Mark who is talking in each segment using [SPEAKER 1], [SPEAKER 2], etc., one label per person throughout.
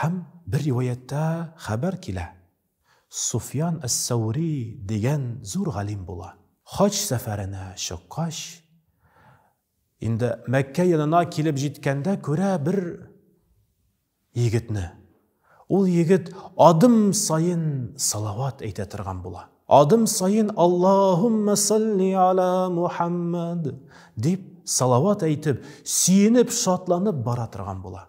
[SPEAKER 1] Һәм бер риваятьтә хәбәр килә, Суфьян әс-Сәүри дигән зур галим була. Хаҗ сәфәренә чыккач, инде Мәккә янына килеп җиткәндә күрә бер егетне. Ул егет адым саен салават әйтә торган була. Адым саен Аллаһуммә салли аля Мухаммад дип салават әйтеп, сөенеп, шатланып бара торган була.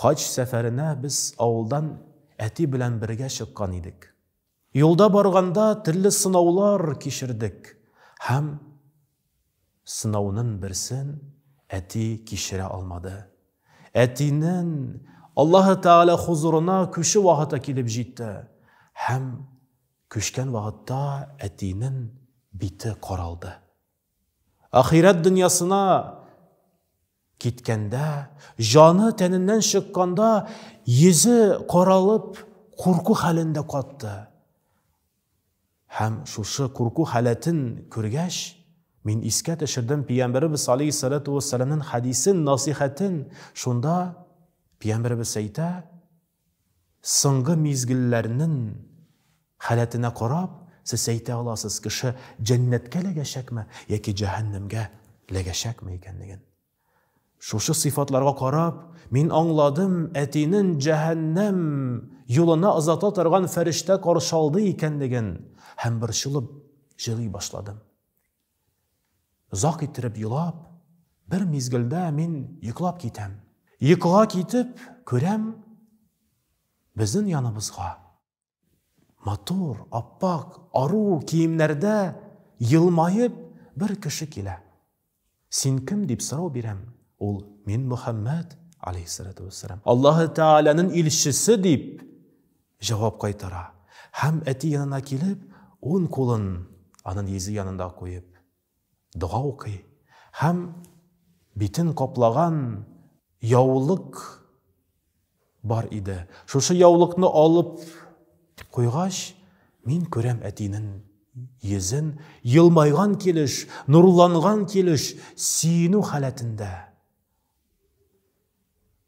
[SPEAKER 1] Хаҗ сәфәренә без авылдан әти белән бергә чыккан идек. Юлда барганда төрле сынаулар кичердек һәм сынаунын берсен әти кичерә алмады. Әтинен Аллаһы Тәгалә хозурына күчү вакыты килеп җитте һәм күчкән вакытта әтинен бите каралды. Ахирәт дөньясына Киткәндә, җаны тәненнән чыкканда, йөзе каралып, курку хәлендә катты. Һәм шушы курку халәтен күргәч, мин искә төшердем Пиямберебез алейхиссалату вассаламнын хәдисен, насихәтен. Шунда Пиямберебез әйтә, Соңгы мизгелләрнен халәтенә карап, сез әйтә аласыз, кеше җәннәткә ләгәчәкме яки җәһәннәмгә ләгәчәкме икәнлеген. Шушы сыйфатларга карап, мин аңладым, әтинен җәһәннәм юлына озата торган фәрештә каршы алды икәнлеген һәм борчылып җылый башладым. Озак иттереп елап, бер мизгелдә мин йоклап китәм. Йокыга китеп, күрәм, безнең яныбызга матур, аппак, ару киемнәрдә елмаеп бер кеше килә. Син кем дип сорау бирәм, ул мин Мөхәммәд, алейхиссалату вассалам, Аллаһы Тәгаләнең илчесе дип Җавап кайтара һәм әти янына килеп, ун кулын анын йөзе янында куеп, дога укый һәм битен каплаган яулык бар иде. Шушы яулыкны алып куйгач, мин күрәм әтинен йөзен елмайган килеш, нурланган килеш, сөенү халәтендә.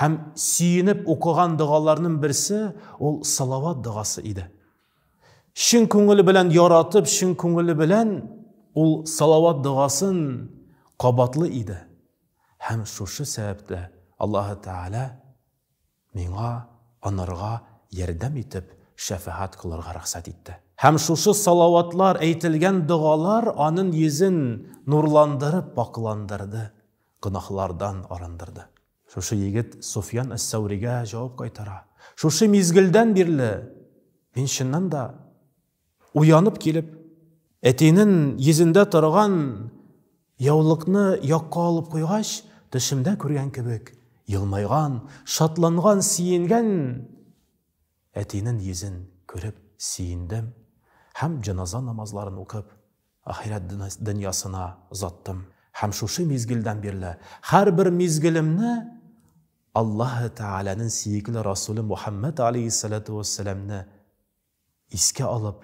[SPEAKER 1] Һәм сөенеп укыган догаларның берсе ул салават догасы иде. Чын күңеле белән яратып, чын күңеле белән ул салават догасын кабатлы иде. Һәм шушы сәбәптә Аллаһы Тәгалә миңа анырга ярдәм итеп шәфәгать кылырга рөхсәт итте. Һәм шушы салаватлар әйтелгән догалар аның йөзен нурландырып пакыландырды. Гөнаһлардан арындырды. Шушы егет Суфьян әс-Сәүригә җавап кайтара. Шушы мизгелдән бирле мин чыннан да уянып килеп, әтинен йөзендә торган яулыкны якка алып куйгач, төшемдә күргән кебек, елмайган, шатланган, сиенгән әтинен йөзен күреп сиендем һәм җаназа намазларын укып, Ахирәт дөньясына озаттым. Һәм шушы мизгелдән бирле һәрбер мизгелемне Аллаһы Тәгаләнең сөекле Расуле Мухәммәд аләйһиссәләтү вәссәламне искә алып,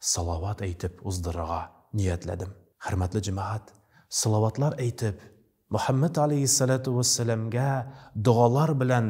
[SPEAKER 1] салават әйтеп уздырырга ниятләдем. Хөрмәтле җәмәгать, салаватлар әйтеп, Мухәммәд аләйһиссәләтү вәссәламгә догалар белән